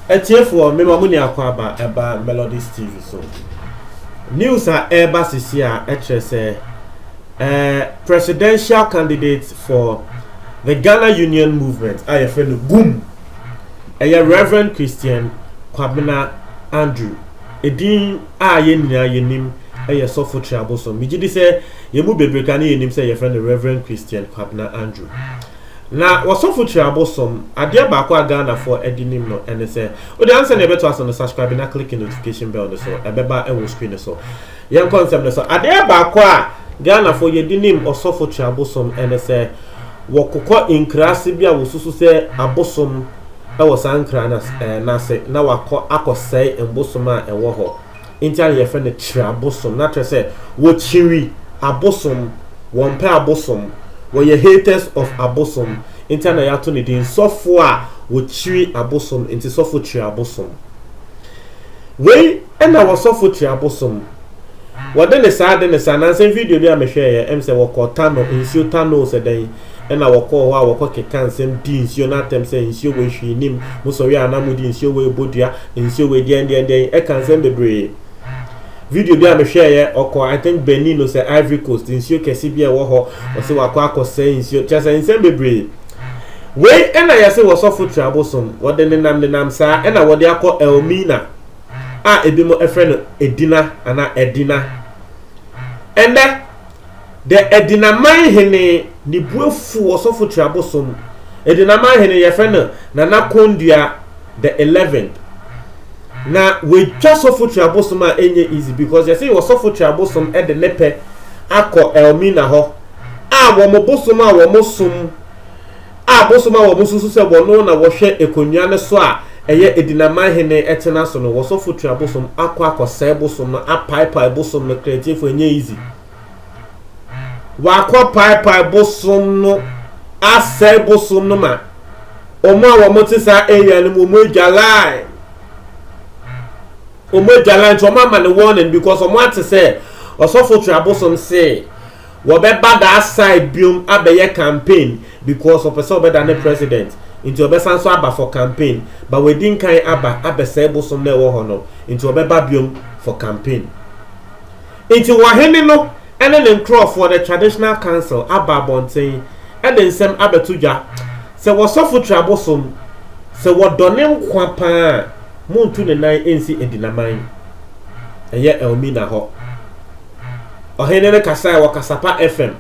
atiefoɔ mema mo nya akɔ aba ɛba melodies tv so news a ɛreba sisi a ɛkyerɛ sɛ uh, presidential candidate for the ghana union movement a yɛfrɛ no gum ɛyɛ reverend christian kwabena andrew ɛdin a yɛn nyinaa yɛnim yɛ Sɔfo Trea Bosom. Megye di sɛ yɛn mu bebree ka ne yɛnim sɛ yɛfrɛ no Reverend Christian Kwabena Andrew. Na wɔ Sɔfo Trea Bosom, adeɛ baako a Ghanafoɔ adi nim no ɛne sɛ, wode ansa na yɛbɛto aso no, subscribe na click notification bell no so, ɛbɛba wɔ screen no so. Yɛnkɔ nsɛm no so. Adeɛ baako a Ghanafoɔ yɛdi nim Ɔsɔfo Trea Bosom ɛne sɛ, wɔkokɔ nkuraase bi a wɔsusu sɛ abosom wɔ saa nkra no ase na wakɔ akɔsɛe mbosom a ɛwɔ hɔ. Nti ara na yɛfrɛ no Kyirabosom. Na kyerɛ sɛ, wɔkyiri abosom, wɔmpɛ abosom, wɔyɛ haters of abosom. Nti ara na yɛato no din sɔfo a wɔkyiri abosom, nti sɔfo Kyirabosom. Wei na wɔ sɔfo Kyirabosom. Wɔde ne saa, de ne saa. Nansa video bi a mehwɛeɛ, ɛm sɛ wɔkɔ Tano, nsuo Tano sɛ dɛn. Ɛnna wɔkɔɔ hɔ a wɔkɔkekaa nsɛm dii nsuo no atɛm sɛ, Nsuo wei hwee nnim, mosɔre a na modi, nsuo wei bɔ dua, nsuo wei deɛndeɛndeɛn. Ɛka nsɛm bebree. Video bi a mehwɛeɛ, ɔkɔ I think Benin no sɛ Ivory Coast, nsuo kɛse bi a ɛwɔ hɔ, ɔse wakɔ akɔsɛe nsuo, kyerɛ sɛ nsɛm bebree. Wei ɛna yɛse wɔ sɔfo tiri abosom, wɔde nenam nenam saa ɛna wɔde akɔ Elmina a ebinom ɛfrɛ no Edina anaa Ɛdina. Ɛndɛ. Dɛ Edinaman Hene, ne bo efuw Ɔsɔfo Twera bosoom. Edinaman Hene, yɛfrɛ no Nana Kondua the Eleventh. Na oetwa Sɔfo Twera bosoom a ennyɛ easy because yɛse wɔ Sɔfo Twera bosoom de ne pɛ akɔ Elmina hɔ a wɔn bosoom a wɔsom a bosom a wɔsusu sɛ wɔno na wɔhwɛ akonnwa no so a ɛyɛ Adinaman Hene tena so no, wɔsɔfo tua bosom akɔ akɔsɛe bosom no, apaepae bosom no, Kretiefo ɛnyɛ easy. Wakɔ paepae bosom no, asɛe bosom no ma wɔn a wɔn te saa area no mu wɔn adwalae. Wɔn adwalae nti wɔn ama no warning because wɔn ate sɛ ɔsɔfo tua bosom see Wɔbɛba daa side biom abɛyɛ campaign because ɔpɛ sɛ ɔbɛda ne president nti ɔbɛsan nso aba for campaign but wadi nkan aba abɛsɛe bosom no a ɛwɔ hɔ no nti ɔbɛba biom for campaign nti ɔhene no ne ne nkorɔfoɔ the traditional council aba abɔnten de nsɛm abɛto dwa sɛ wɔsɔfo tira bosom sɛ wɔdɔ ne nkwa paa a montu ne nan nsi adinaman ɛyɛ Elmina hɔ. Ɔhene no kasae wɔ Kasapa FM.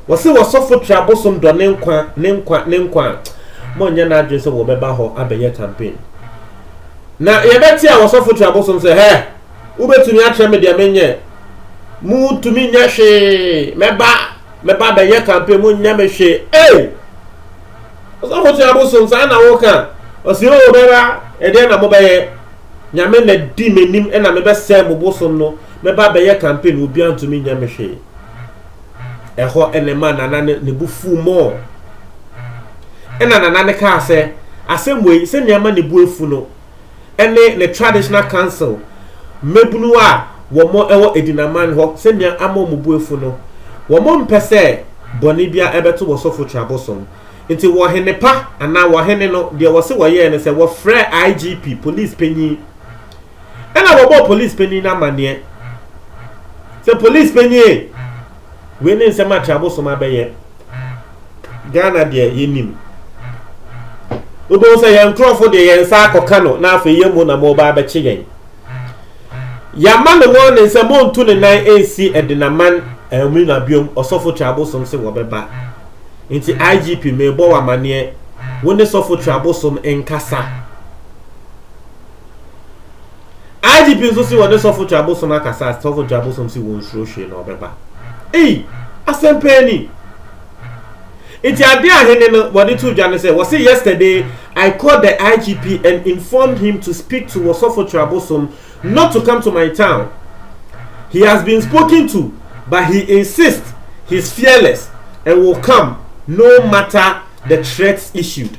Wɔse wɔsɔfo tra bosom dɔ ne nkwa, ne nkwa, ne nkwa a, monyɛ n'adwene sɛ wɔbɛba hɔ abɛyɛ campaign. Na yɛbɛte a wɔsɔfo tra bosom sɛ, hɛ, wobɛtumi akyerɛ me deɛ menyɛ. Motumi nyɛ hwee, mɛba, mɛba bɛyɛ campaign, monyɛ me hwee. Ei! Wɔsɔfo tra bosom saa na woka. Ɔse, o, bɛba, ɛdeɛ na mobɛyɛ. Nyame na di m'anim na mebɛsɛe mo bosom no. Mɛba abɛyɛ campaign no obiara ntumi nyɛ me hwee. Ɛhɔ na ɛmaa Nana no ne bo fuu more. Ɛna Nana no kaa sɛ asɛm wei sɛnea ɛma ne bo afu no ɛne ne traditional council mmabunu a wɔn ɛwɔ Edinaman hɔ sɛnea ama wɔn bo afu no. Wɔn mpɛ sɛ bɔne biara ɛbɛto wɔ sɔfo Trabosom. Nti wɔ hene pa anaa wɔ hene no deɛ wɔse wɔyɛɛ no sɛ wɔfrɛɛ IGP, police panyin, Ɛna wɔbɔɔ polis panyin no amanneɛ sɛ, Polis panyin e, wei ne nsɛm a Kyerɛabosom abɛyɛ. Ghana deɛ yɛnim. Wobɛhu sɛ yɛn nkurɔfo deɛ yɛn nsa akɔka no na afei yɛn mu na moba abɛkye yɛn. Yɛama no wɔne sɛ montu ne nan nsi Ɛdenaman Amina biom ɔsɔfo Kyerɛabosom se wɔbɛba. Nti IGP mebɔ wɔ amanneɛ wo ne sɔfo Kyerɛabosom nkasa. IGP nso se wɔne Sɔfo Twɛ Abosom akasa a Sɔfo Twɛ Abosom se wɔnsuro hwee na ɔbɛba. Ei! Asɛm paa ni! Nti ade a hene no wɔde too dwa ne sɛ wɔse yesterday I called the IGP and informed him to speak to Wɔsɔfo Twɛ Abosom not to come to my town. He has been spoken to but he insists he's fearless and will come no matter the threats issued.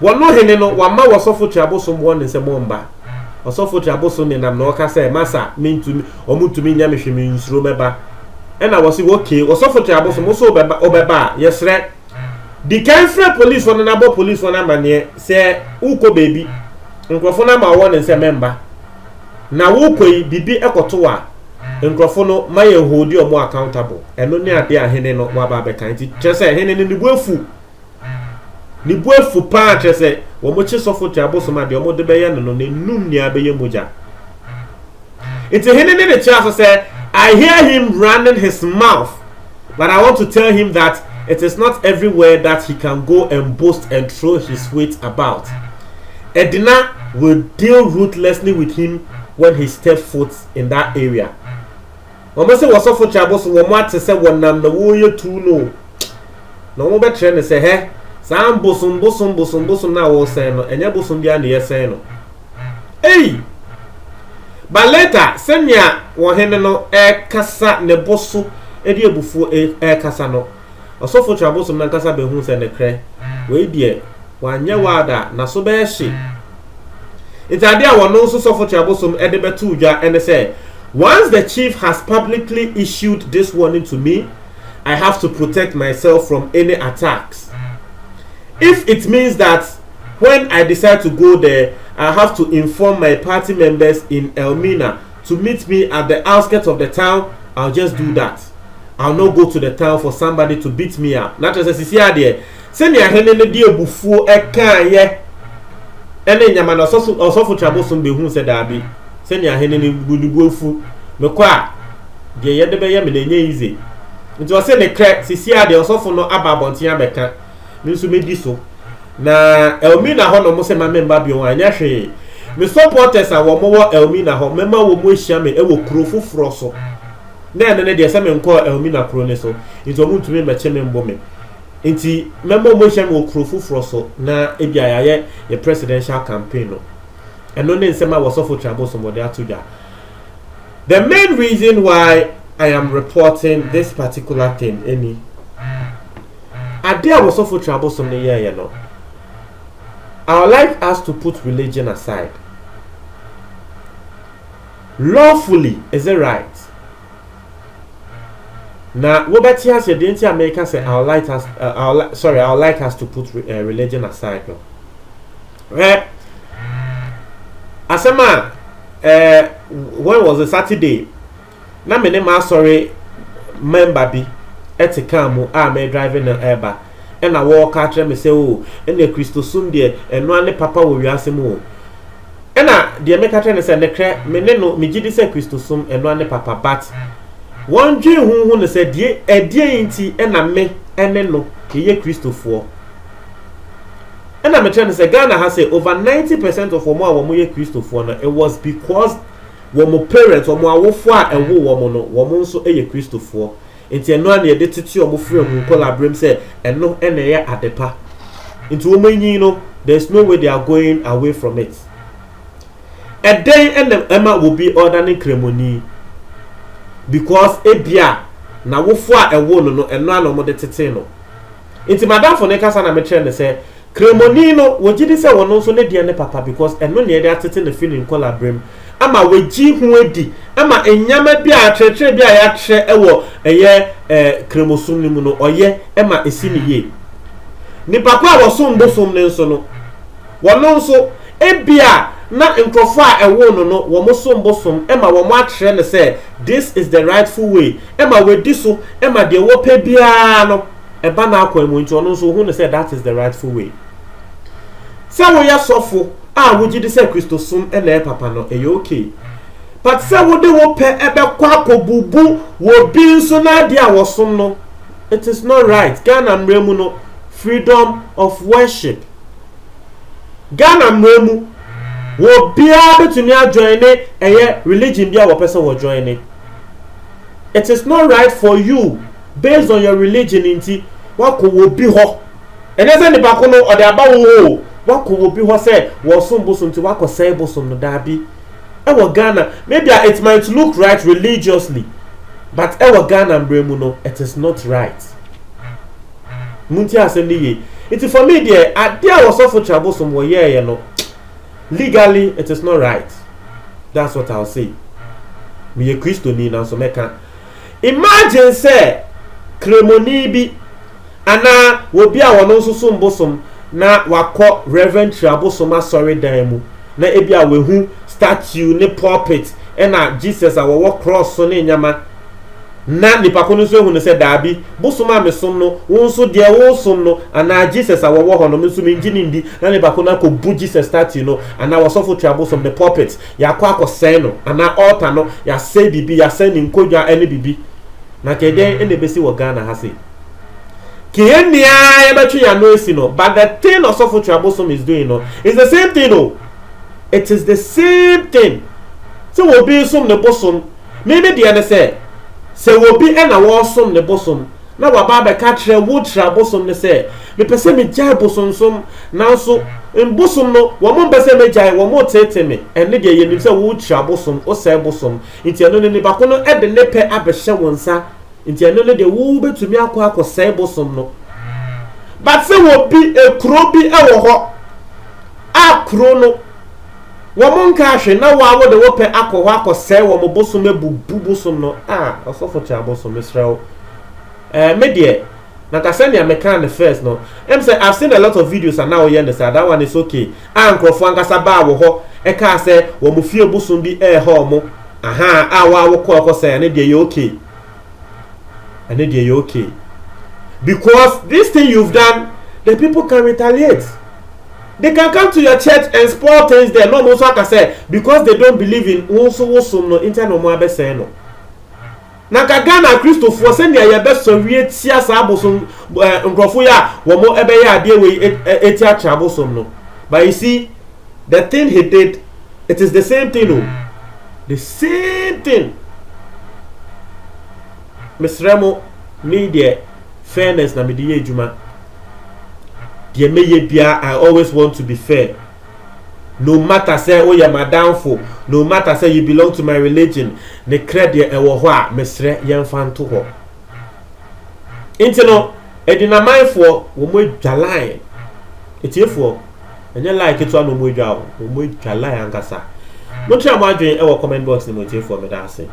Wɔn no hene no, wɔama wɔsɔfo tiri abosom wɔn ne sɛ mommba. Ɔsɔfo tiri abosom nenam na ɔka sɛ, Masa, mentumi, wɔn ntumi nyɛ me hwe, me nsuro mɛba. Ɛna wɔse, okay, ɔsɔfo tiri abosom, wo so wobɛba, wobɛba a, yɛsrɛ, di kan frɛ polisfoɔ no na bɔ polisfoɔ no amaneɛ sɛ wokɔ baabi, nkurɔfo no ama wɔn ne sɛ memmba, na wokɔ yi, biribi kɔto wo a, nkurɔfo no, ma yɛn holdi wɔn accountable. Ɛno ne adeɛ a hene no waba abɛka. Nti, kyerɛ sɛ, hene no ne bo afu. Ne bo afu paa kyerɛ sɛ wɔkye sɔfo te abosom a deɛ wɔde bɛyɛ no no n'anum nyinaa bɛyɛ mogya. Nti hene ne ne kyerɛ so sɛ I hear him running his mouth but I want to tell him that it is not everywhere that he can go and boast and throw his weight about. Edina will deal ruthlessly with him when he step foot in that area. Wɔn se wɔ sɔfo kyɛbo so wɔn ate sɛ wɔnam na wɔreyɛ tuu no o. Na wɔn bɛkyerɛ no sɛ hɛ, saa mbosom bosom bosom bosom no a wɔresɛn no, ɛnyɛ bosom biara na yɛsɛn no. Ei! But later, sɛnea wɔn hene no rekasa ne bo so de abufuo rekasa no, Ɔsɔfo Trabosom no ankasa behu sɛ nokorɛ, wei deɛ, wanyɛ wild a, n'aso bɛyɛ hye. Nti adeɛ a wɔno nso Sɔfo Trabosom de bɛtoo dwa ne sɛ, Once the Chief has publicly issued this warning to me, I have to protect myself from any attacks. If it means that when I decide to go there, I have to inform my party members in Elmina to meet me at the outskirts of the town, I'll just do that. I'll not go to the town for somebody to beat me up. Na kyerɛ sɛ sisi adeɛ sɛnea hene no de abufuo ɛkaayɛ ɛne nyama na ɔsɔfo ɔsɔfo twabosom behu sɛ daabi sɛnea hene no bu ne bu afu mekɔ a deɛ yɛde bɛyɛ me na ɛnyɛ yize nti ɔse ne krɛ sisi adeɛ ɔsɔfo no aba abɔnten abɛka me nso medi so na Elmina hɔ na ɔmo sɛ ma memba bio a ɛnyɛ hwee me supporters a wɔn wɔ Elmina hɔ mɛma wɔn ahyia me ɛwɔ kuro foforɔ so. na ɛno ne deɛ sɛ menkɔɔ Elmina kuro no so nti wɔn ntumi mmɛkye me mbo me nti mɛma wɔn ahyia me wɔ kuro foforɔ so na ebi a yɛayɛ yɛ presidential campaign no ɛno ne nsɛm a wɔsɔfo twabo so wɔde ato dwa the main reason why I am reporting this particular thing ɛni ade a wɔsɔfo twabo so no yɛɛyɛ no I would like us to put religion aside. Lawfully, is it right? Na wobɛte aseɛ deɛ nti a meka sɛ I would like us, uh, I would li sorry, I would like us to put re uh, religion aside no. Eh, asɛm a, eh, when was it Saturday? Na me ne m'asɔre member bi ɛte kaa mu a me drive no ɛreba ɛna wɔreka akyerɛ me sɛ o oh, ɛna kristosom deɛ ɛnoa ne papa wɔ wiase mu o. Ɛna deɛ meka kyerɛ no sɛ nekrɛ me ne no megye di sɛ Kristo som ɛnoa ne papa but wɔn dwen ho hu no sɛ die ɛdeɛn nti ɛna me ɛne no yɛyɛ Kristofoɔ ɛna mekyerɛ no sɛ Ghana ha sɛ over 90% of wɔn a wɔn yɛ Kristofoɔ no it was because wɔn parents wɔn awofoɔ a ɛwo wɔn no wɔn nso yɛ Kristofoɔ Nti ɛno ara na yɛde tete wɔn firi wɔn nkɔlaaberem sɛ ɛno na ɛyɛ adepa. Nti wɔanyin no, there is no way they are going away from it. Ɛdɛn na ɛma obi ɔredane Nkramoni? Because ebia n'awofoɔ a ɛwoo no no, ɛno ara na wɔde tetee no. Nti m'adamfo no kasa na mekyerɛ no sɛ, Kramoni no, wɔgye di sɛ ɔno nso ne deɛ ne papa because ɛno na yɛde atete no firi ne nkɔlaberem ama wagye ho adi ama nneɛma bi a akyerɛkyerɛ bi a yɛakyerɛ wɔ ɛyɛ eh, Kramosom no mu no ɔyɛ ma ɛsi no yie. Nipa ko a wɔsom bosom no nso no, wɔno nso ebia na nkurɔfoɔ a ɛwoo no no wɔn som bosom ma wɔn akyerɛ no sɛ this is the rightful way ma wadi so ma deɛ wɔpɛ biara no ɛba n'akwan mu nti ɔno nso wohu no sɛ that is the rightful way. Sɛ woyɛ sɔfo a wogye di sɛ Kristosom na ɛyɛ papa no, ɛyɛ okay. But sɛ wode wo pɛ bɛkɔ akɔbubu wɔ bi nso n'adeɛ a wɔsom no, it is not right. Ghana mmara mu no, freedom of worship. Ghana mmara mu, wɔ biara bɛtumi adjoin ne ɛyɛ religion bi a wɔpɛ sɛ wɔjoin ne. It is not right for you based on your religion nti wakɔ wɔ bi hɔ ɛnɛ sɛ nipa ko no ɔde aba wo hɔ o wakɔ wɔ bi hɔ sɛ wɔsom bosom nti wakɔ sɛe bosom no daabi ɛwɔ Ghana maybe a it might look right religiously but ɛwɔ Ghana mbrɛ mu no it is not right munti asɛm no yie nti for me deɛ adeɛ a wɔsɔfo kyerɛ bosom wɔyɛɛyɛ no legally it is not right that's what I'll say meyɛ kristoni nanso mɛka Imagine sɛ Kremoni bi anaa obi a ɔno nso som bosom na wakɔ Rev. Tira Bosom asɔredan mu na ebia wahu statue ne pulpit na Jesus a ɔwɔ cross so ne nneɛma na nipa ko no nso ahu no sɛ daabi, bosom a mesom no, wo nso deɛ woresom no anaa Jesus a ɔwɔ hɔ no me nso mengye no ndi na nipa ko no akɔbu Jesus statue no anaa ɔsɔfo Tira Bosom ne pulpit Yɛakɔ akɔsɛe no, anaa altar no, yɛasɛe biribi, yɛasɛe ne nkonnwa ne biribi. Na nka ɛdɛn na ɛbɛsi wɔ Ghana ha sei? Nka yɛn nyinaa yɛbɛtwe yɛn ano asi no. But the thing Ɔsɔfo Twere Abosom is doing no, it's the same thing o. It is the same thing. Sɛ obi resom ne bosom, me me deɛ ne sɛ, sɛ obi na wɔresom ne bosom, na waba abɛka akyerɛ wo Twere Abosom no sɛ, Mepɛ sɛ megyae bosonsom, nanso mbosom no, wɔmpɛ sɛ megyae, wɔteetee me. Ɛnne deɛ, yɛnim sɛ wokyiri abosom, wosɛe bosom, nti ɛno no, nnipa ko no de ne pɛ abɛhyɛ wo nsa, nti ɛno no deɛ, wobɛtumi akɔ akɔsɛe bosom no. But sɛ obi, kuro bi wɔ hɔ a kuro no, wɔnkaa hwe na woa wode wo pɛ akɔ hɔ akɔsɛe wɔn bosom, abubu bosom no, ah, ɔsɔfo Kyabosom, mesrɛ wo, eh, me deɛ, Na ka sɛnea mekaa no first no, ɛm sɛ I've seen a lot of videos a na woyɛ no saa, that one is ok, a nkorɔfoɔ ankasa baa wo hɔ ɛkaa sɛ wɔn fie bosom bi ɛɛha wɔn, ahaa, a wo ara wo kɔ ɛhɔ sɛɛ, ɛno deɛ ɛyɛ ok, ɛno deɛ ɛyɛ ok, because this thing you've done, the people can retaliate, they can come to your church and spoil things there, na wɔn nso aka sɛ because they don't believe in wo nso wo som no, nti na wɔn abɛsɛe no. Na nka Ghana akristofoɔ sɛnea yɛbɛsɔre atia saa abosom eh, nkurɔfoɔ yi a wɔn bɛyɛ adeɛ wei ɛti akyerɛ abosom no but you see the thing he did it is the same thing o oh. the same thing mesrɛ mo me deɛ fairness na mede yɛ adwuma deɛ mɛyɛ biara i always want to be fair no matter sɛ woyɛ m'adamfo, no matter sɛ you belong to my religion, ne krɛ deɛ ɛwɔ hɔ a, mesrɛ yɛmfa nto hɔ. Nti no, adwinamanfoɔ, wɔn adwa line. Atiefoɔ, ɛnyɛ line ketewa na wɔn adwa o, wɔn adwa line ankasa. Montwea mo adwene ɛwɔ comment box no mu atiefoɔ, meda ase.